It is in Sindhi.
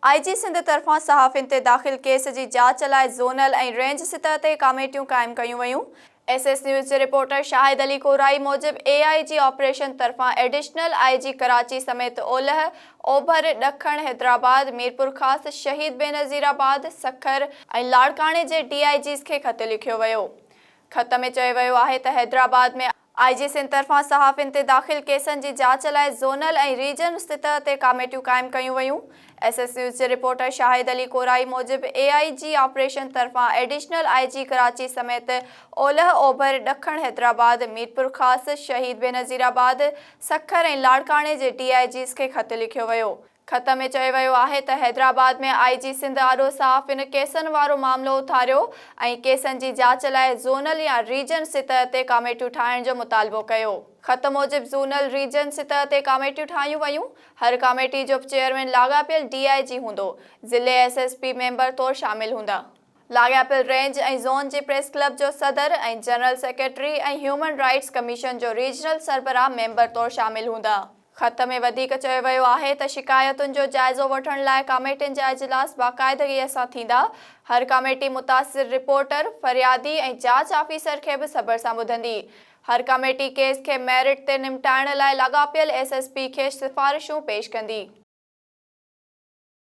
آء جي سنڌ طرفان صحافين تي داخل ڪيس جي جاچ لاء زونل ۽ رينج سطح تي ڪاميٽيون قائم ڪيون ويون، ايس ايس نيوز جي رپورٽر شاهد علي ڪورائي موجب اي آء جي آپريشن طرفان ايڊيشنل آء جي ڪراچي سميت اولهه، اوڀر، ڏکڻ، حيدرآباد، ميرپورخاص، شهيد بينظير آباد، سکر ۽ لاڙڪاڻي جي ڊي آء جيز کي خط لکيو ويو، خط ۾ چيو ويو آهي ته حيدرآباد ۾ آء جي سنڌ طرفان صحافين تي داخل ڪيسن جي جاچ لاء زونل ۽ ريجن سطح تي ڪاميٽيون قائم ڪيون ويون. ايس ايس نيوز جي رپورٽر شاهد علي ڪورائي موجب اي آء جي آپريشن طرفان ايڊيشنل آء جي ڪراچي سميت اولهه اوڀر، ڏکڻ حيدرآباد، ميرپورخاص، شهيد بينظيرآباد، سکر ۽ لاڙڪاڻي جي ڊي آء جيز کي خط لکيو ويو. خط ۾ چيو ويو آهي ته حيدرآباد ۾ آء جي سنڌ آڏو صحافين ڪيسن وارو معاملو اٿاريو ۽ ڪيسن جي جاچ لاء زونل يا ريجن سطح تي ڪاميٽيون ٺاهڻ جو مطالبو ڪيو. خط موجب زونل، ريجن سطح تي ڪاميٽيون ٺاهيون ويون، هر ڪاميٽي جو چيئرمين لاڳاپيل ڊي آء جي هوندو، ضلعي ايس ايس پي ميمبر طور شامل هوندا. لاڳاپيل رينج ۽ زون جي پريس ڪلب جو صدر ۽ general secretary ۽ human rights commission جو ريجنل سربراهه ميمبر طور شامل هوندا. خط ۾ وڌيڪ چيو ويو آهي ته شڪايتن جو جائزو وٺڻ لاء ڪاميٽين جا اجلاس باقاعدگيء سان ٿيندا، هر ڪاميٽي متاثر رپورٽر، فريادي ۽ جاچ آفيسر کي به صبر سان ٻڌندي. هر ڪاميٽي ڪيس کي ميرٽ تي نمٽائڻ لاء لاڳاپيل ايس ايس پي کي سفارشون پيش ڪندي.